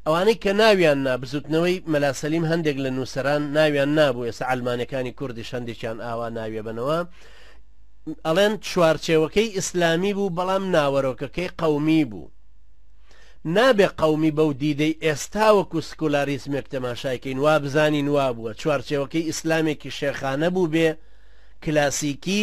ئەوانەی کە ناویان نا بزوتنەوەی مەلا سەلیم هەندێک لە نوسەران ناویان نابوو ئێستا عەلمانەکانی کوردیش هەندێکیان ئاوا ناویەبەنەوە ئەڵێن چوارچێوەکەی ئیسلامی بوو بەڵام ناوەرۆکەکەی قەومی بوو نابێ قەومی بەو دیدەی ئێستا وەکو سکولاریزمێک تەماشایکەین وا بزانین وا بووە چوارچێوەکەی ئیسلامێکی شێخانە بوو بێ کلاسیکی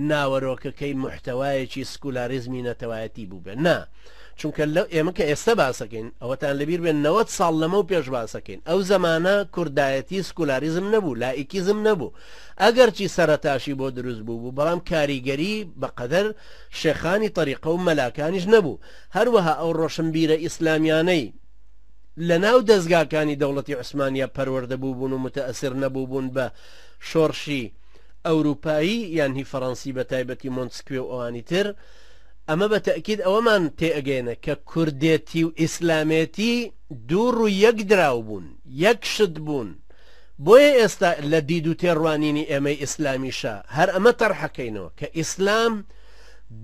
ناوەرۆکەکەی موحتەوایەکی سکولاریزمی نەتەوایەتی بووبێ نا چونکە لەو ئێمە کە ئێستە باسەکەین ئەوەتان لەبیر بێن نەوەت ساڵ لەمەو پێش باسەکەین ئەو زەمانە کوردایەتی سکولاریزم نەبوو لائیکیزم نەبوو ئەگەرچی سەرەتاشی بۆ دروست بوو بوو بەڵام کاریگەری بەقەدەر شێخانی طریقە و مەلاکانیش نەبوو هەروەها ئەو ڕۆشنبیرە ئیسلامیانەی لە ناو دەستگاکانی دەوڵەتی عوسمانیا پەروەردە بووبوون و متەئسر نەبووبوون بە شۆڕشی ئەوروپایی یان هی فەرەنسی بە تایبەتی مۆنتسکوێ و ئەوانی تر ئەمە بە تەئکید ئەوەمان تێ ئەگەیەنە کە کوردێتی و ئیسلامێتی دوو ڕووی یەک دراو بوون یەک شت بوون بۆیە ئێستا لە دید و تێڕوانینی ئێمەی ئیسلامیشا هەر ئەمە تەرح ئەکەینەوە کە ئیسلام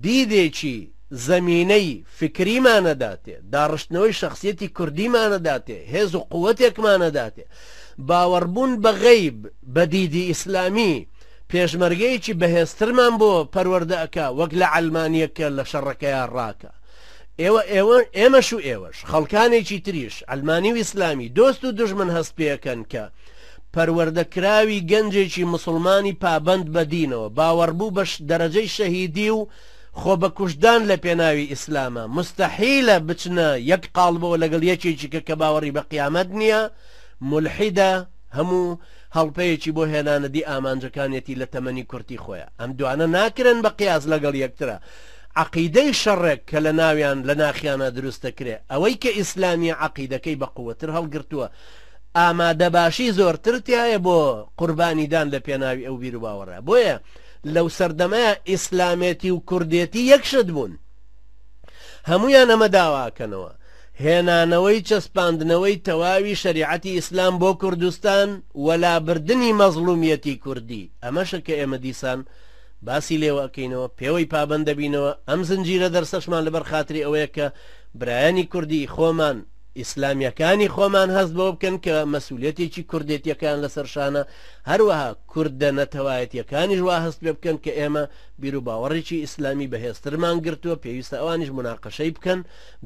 دیدێکی زەمینەی فکریمان ئەداتێ داڕشتنەوەی شەخسیەتی کوردیمان ئەداتێ هێز و قووەتێکمان ئەداتێ باوەڕبوون بە غەیب، بە دیدی ئیسلامی، پێشمەرگەیەکی بەهێزترمان بۆ پەروەردە ئەکا وەک لە عەلمانیەک کە لە شەڕەکەیا ڕاکە. ئێوە ئێوە ئێمەش و ئێوەش، خەڵکانێکی تریش، عەلمانی و ئیسلامی، دۆست و دوژمن هەست پێ ئەکەن کە پەروەردە کراوی گەنجێکی موسڵمانی پابەند بە دینەوە، باوەڕبوو بە دەرەجەی شەهیدی و، خۆ بە کوشتدان لە پێناوی ئیسلامە موستەحیلە بچنە یەک قاڵبەوە لەگەڵ یەکێکی کە کە باوەڕی بە قیامەت نییە مولحیدە هەموو هەڵپەیەکی بۆ هێنانە دی ئامانجەکانیەتی لە تەمەنی کورتی خۆیە ئەم دوانە ناکرێن بە قیاس لەگەڵ یەکترا عەقیدەی شەڕێک کە لە ناویان لە ناخیانە دروست دەکرێ ئەوەی کە ئیسلامیە عەقیدەکەی بە قووەتر هەڵگرتووە ئامادەباشی زۆرتر تایە بۆ قوربانیدان لە پێناوی ئەو بیرو باوەڕە بۆیە لەو سەردەمەیا ئیسلامێتی و کوردێتی یەک شت بوون هەمویان ئەمە داواکەنەوە هێنانەوەی چەسپاندنەوەی تەواوی شەریعەتی ئیسلام بۆ کوردستان وەلابردنی مەزڵومیەتی کوردی ئەمەشە کە ئێمە دیسان باسی لێوەکەینەوە پێوەی پابند دەبینەوە ئەم زنجیرە دەرسەشمان لەبەر خاتری ئەوەیە کە برایانی کوردی خۆمان ئیسلامیەکانی خۆمان هەست بۆ بکەن کە مەسوولەتێکی کوردێتیەکان لەسەر شانە هەروەها کوردە نەتەوایەتیەکانیش وا هەست پێ بکەن کە ئێمە بیروباوەڕێکی ئیسلامی بەهێزترمان گرتووە، پێویستە ئەوانیش موناقەشەی بکەن،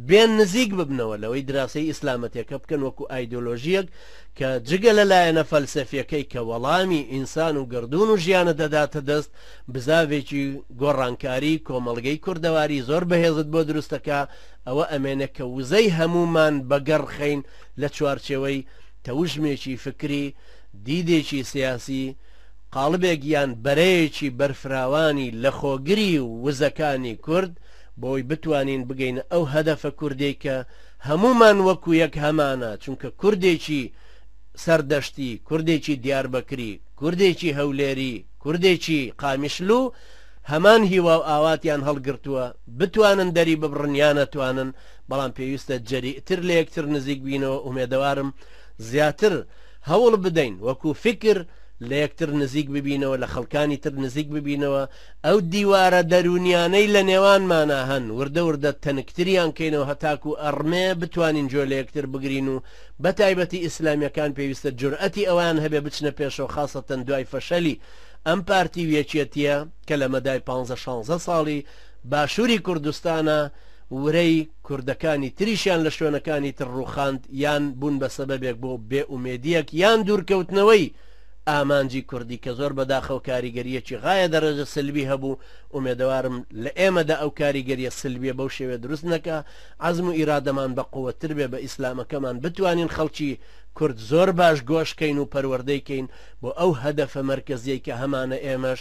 بێن نزیک ببنەوە لەوەی دراسەی ئیسلامەتەکە بکەن وەکو ئایدۆلۆژیەک کە جگە لە لایەنە فەلسەفیەکەی کە وەڵامی ئینسان و گەردوون و ژیانە دەداتە دەست بزاڤێکی گۆڕانکاری کۆمەڵگەی کوردەواری زۆر بەهێزت بۆ دروستەکا، ئەوە ئەمێنێ کە وزەی هەموومان بەگەڕ خەین لە چوارچێوەی تەوژمێکی فکری، دیدێکی سیاسی، قاڵبێک یان بەرەیەکی بەرفراوانی لەخۆگری وزەکانی کورد بۆی بتوانین بگەینە ئەو هەدەفە کوردەی کە هەموومان وەکو یەک هەمانە چونکە کوردێکی سەردەشتی، کوردێکی دیاربەکری، کوردێکی هەولێری، کوردێکی قامیشلو هەمان هیواو ئاواتیان هەڵگرتووە بتوانن دەری ببڕن یا نەتوانن بەڵام پێویستە جەریئتر لەیەکتر نزیک بینەوە ئومێدەوارم زیاتر هەوڵ بدەین وەکو فیکر لە یەکتر نزیک ببینەوە لە خەڵکانی تر نزیک ببینەوە ئەو دیوارە دەروونیانەی لە نێوانمانا هەن وردە وردە تەنکتریان کەینەوە هەتاکو ئەڕمێ بتوانین جۆ لە یەکتر بگرین و بە تایبەتی ئیسلامیەکان پێویستە جورئەتی ئەوەیان هەبێ بچنە پێشەوە خاسەتەن دوای فەشەلی ئەم پارتی و یەکیەتیە کە لە مەدای پانزە شانزە ساڵی باشوری کوردستانە ورەی کوردەکانی تریشیان لە شوێنەکانی تر ڕووخاند یان بوون بە سەبەبێک بۆ بێ ئومێدییەک یان دوورکەوتنەوەی ئامانجی کوردی کە زۆر بەداخەوە کاریگەرییەکی غایە دەرەجە سلبی هەبوو ئومێدەوارم لە ئێمەدا ئەو کاریگەرییە سلبیە بەو شێوەیە دروست نەکا عەزم و ئیرادەمان بە قووەتتر بێ بە ئیسلامەکەمان بتوانین خەڵکی کورد زۆر باش گۆش کەین و پەروەردەی کەین بۆ ئەو هەدەفە مەرکەزیەی کە هەمانە ئێمەش